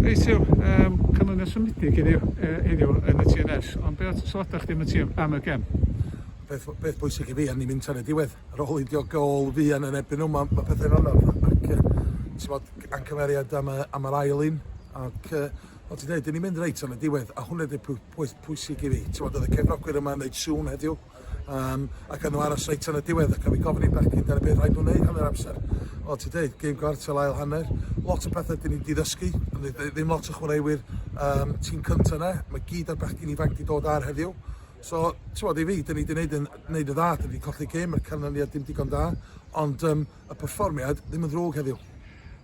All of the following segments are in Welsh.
Reit, Huw, um, canlyniad symudig i ni uh, heddiw yn y TNS, ond be oedd sylwadau chdi am y, tîm, am y gem? Beth, beth bwysig i fi, a ni'n mynd tan y diwedd, ar ôl i dio gol fuan yn ebyn nhw, mae ma pethau'n anodd, ac uh, ti'n bod ancymeriad am, am yr ail un, ac uh, fel ti'n dweud, ni'n mynd reit tan y diwedd, a hwnna ydy'r pwysig i fi, ti'n bod, oedd y cefnogwyr yma yn neud sŵn heddiw, Yym a gawn nhw aros reit tan y diwedd ac a fi gofyn i Becky dyna beth rhaid nhw wneud hanner amser. O ti deud, gêm gwartel ail hanner, lot o pethau dyn ni wedi ddysgu, ddim lot o chwaraewyr um, tîm cyntaf yna, mae gyd ar bechgyn ifanc wedi dod ar heddiw. So, ti'n bod i fi, dyn ni wedi gwneud yn, wneud y dda, dyn ni wedi colli gêm, mae'r canlyniad dim digon da, ond um, y perfformiad ddim yn ddrwg heddiw.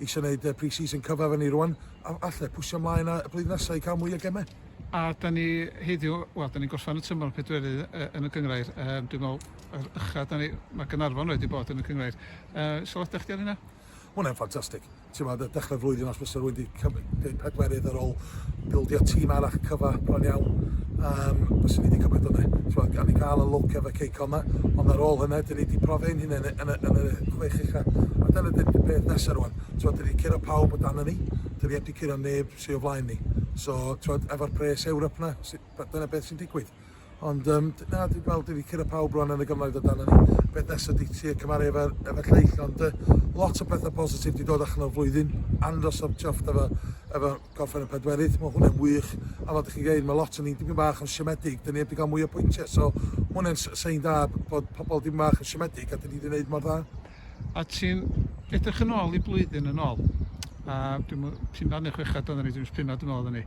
eisiau wneud y pre-season cyfa fyny rŵan, a allai pwsio mlaen a y blwyddyn nesaf i cael mwy o gemau. A da ni heddiw, wel, da ni'n gorffen y tymor yn pedwerydd yn y gynghrair. Yym, dwi'n meddwl, yr ucha da ni, mae Gaernarfon wedi bod yn y gynghrair. Yy, sylwadau chdi ar hynna? Mae hwnna'n ffantastig. Timod, dechrau'r flwyddyn os fysa rhywun wedi cymryd pedwerydd ar ôl help bildio tîm arall cyfa bron iawn yym fyswn i 'di cymryd hwnne. T'mod gawn ni ga'l y lwc efo Keiko 'ma ond ar ôl hynna 'dyn ni 'di profi ein hunen yn y yn y chwech ucha a dyna 'di'r peth nesa rŵan. T'mod 'dyn ni'n curo pawb o danon ni, 'dyn ni 'eb 'di curo neb sy o flaen ni. So t'mod efo'r pres Ewrop 'na sy- dyna beth sy'n digwydd. Ond yym d- na dwi gweld dwi 'di curo pawb rŵan yn y gymoedd o dan ynny. Beth nesa di trio cymaru efo efo lleill ond yy lot o petha positif 'di dod allan o'r flwyddyn. Andros o chuffed efo efo gorffen y pedwerydd ma' hwnne'n wych a fel 'dych chi'n g'eud ma' lot o ni'n dipyn bach yn siomedig 'dyn ni 'eb 'di ga'l mwy o pwyntie so ma' hwnne'n s- sein da b- bod pobol dipyn bach yn siomedig a 'dyn ni 'di neud mor dda. A ti'n edrych yn ôl i blwyddyn yn ôl a dwi'm yn punnau ne' chwechad oddan ni dwi'm is' punnau dwi me'wl oddan ni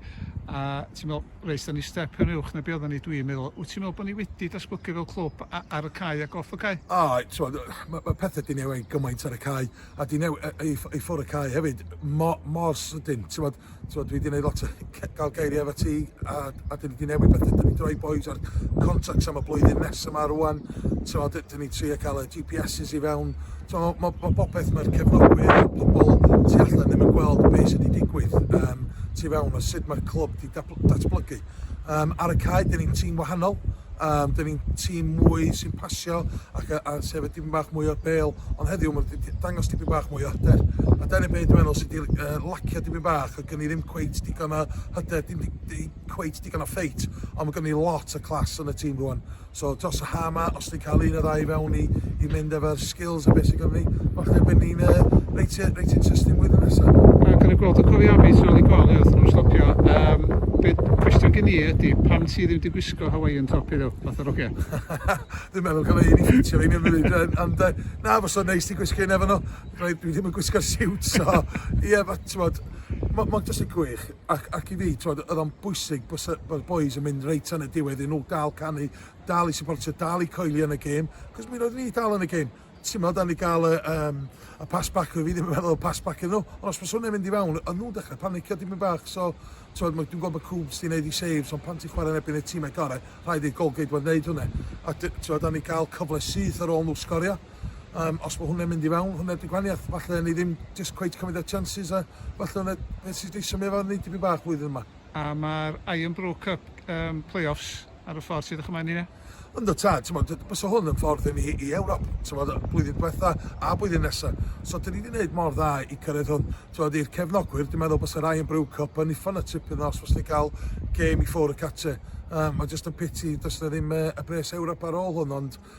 a ti'n me'wl Reit, dan ni step yn uwch na be oeddan ni, dwi'n meddwl. Wyt ti'n meddwl bod ni wedi datblygu fel clwb a- ar y cae ac off y cae? A, t'mod, ma' ma' pethe 'di newid gymaint ar y cae, a 'di new- yy i ff- i ffwr y cae hefyd, mo- mor sydyn, t'mod. T'mod, dwi 'di neud lot o ce- ga'l geirie efo ti, a a 'dyn ni 'di newid pethe. 'Dyn ni'n droi bois ar contracts am y blwyddyn nesa 'ma rŵan, t'mod, 'dy- 'dyn ni'n trio ca'l y Gee Pee Esses i fewn. T'mo', ma' ma' ma' popeth ma'r cefnogwyr a'r pobol tu allan ddim yn gweld be' sy' 'di digwydd yym tu fewn a sud ma'r clwb 'di datblygu. Yym ar y cae, dyn ni'n tîm wahanol, yym dyn ni'n tîm mwy sy'n pasio ac a, a sef y dipyn bach mwy o'r bêl, ond heddiw mae'n dangos dipyn bach mwy o hyder. A dyna beth dwi'n meddwl sydd wedi uh, lacio dipyn bach, oedd gen i ddim cweit digon o hyder, dim di, di, cweit digon o ffeit, ond mae gen i lot o clas yn y tîm rwan. So dros y haf 'ma, os ni'n cael un neu ddau i fewn i i mynd efo'r skills a be sy gynddon ni, falle y bydden ni'n yy reit yy reit interesting flwyddyn nesa. Ac yn y gwrando cofiafi tu ôl i gol i wrth nhw stopio yym be cwestiwn gin i ydi pam ti ddim di gwisgo Hawaiian top heddiw fatha rogia? Dwi'n meddwl gallai un i ffitio fi neu rywun ond yy na fysa fo'n neis ti gwisgo un efo nhw. Dwi ddim yn gwisgo'r siwt so ie ma' t'mod mo- mond jyst yn gwych. Ac, ac i fi, t'mod, oedd o'n bwysig bod y bod y bois yn mynd reit tan y diwedd i nhw gael canu, dal i supportio, dal i coelio yn y gêm, cos mi roeddwn i dal yn y gêm. T'mod, a ni gael y, um, y pass back, fi ddim yn meddwl y pass back iddyn nhw, ond os mae hwnna'n mynd i fewn, oedd nhw'n dechrau panicio dipyn bach, so, t'mod, dwi'n gwybod bod Coombs di wneud i saves, ond pan ti'n chwarae yn ebyn y tîmau gorau, rhaid i'r goalgeidwad wneud hwnna. A, t'mod, a ni gael cyfle syth ar ôl nhw sgorio. Yym os ma' hwnne'n mynd i fewn, hwnne ydi gwanieth. Falle ni ddim jyst cweit cymryd y chances a falle hwnne nes i jyst symud efo ni tipyn bach flwyddyn yma. A ma'r Iron Brook Cup um, play-offs ar y ffordd sydd o'ch ymlaen i ni? Ynddo tad, ti'n modd, bysa hwn yn ffordd i ni i Ewrop, ti'n modd, blwyddyn diwetha a blwyddyn nesa. So, dyn ni wedi gwneud mor dda i cyrraedd hwn. Ti'n modd, i'r cefnogwyr, dwi'n meddwl bysa Ryan Brew Cup yn uffon y tipyn dda os fos ni gael gêm i ffwr y cate. Um, mae jyst yn piti, does na ddim uh, y bres Ewrop ar ôl hwn, ond